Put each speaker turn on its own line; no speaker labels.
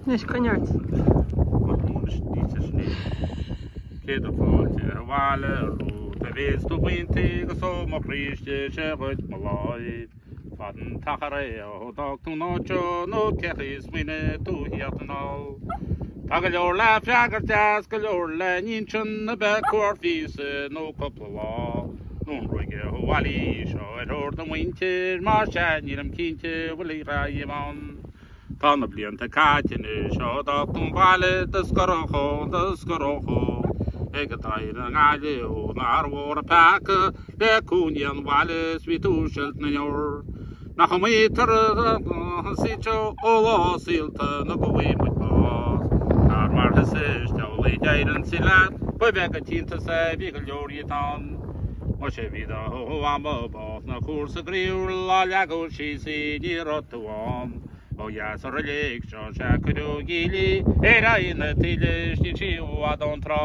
Anois, coinnigh ort! Ach muise ní hé sin é. Céad fáilte abhaile romhat, a mhéid do mhuintir, agus ó mo chroí istigh seo dhuit mo láimh. Fada an t-achar é ó d'fhág tú an áit seo, nó cé chaoi a smaoinigh tú a theacht anall? Tá go leor le freagairt, is go leor le n-insint, nó ab é cuairt mhíosa, nó cúpla. lá, nó an ruaig abhaile í seo ar thóir do mhuintir, má sea, nílim cinnte, bhfuil an dream ann. Tá na blianta caite anois ó d'fhág tú an baile, i do scorach óg, i do scorach óg, ag an deireadh na nGaillimhe ó, nár mhór an peaca le cúinne an bhaile is bhí tú ag silt na ndeor. Nach iomaí turas a thosaítear ó lá saolta nó go bhfaighe muid bás. Tar mar thusa is amhlaidh deireann sí leat, ba bheag an t-iontas é, bhí go leor dhíot ann. Má sé mhí dá ama bás ná cúrsa graoiúil á leagadh síos í, ní raibh tú ann. Ó dheas ar an léig seo sea cuireadh Gigli ar aghaidh na taoille is níl sí i bhfad ón trá.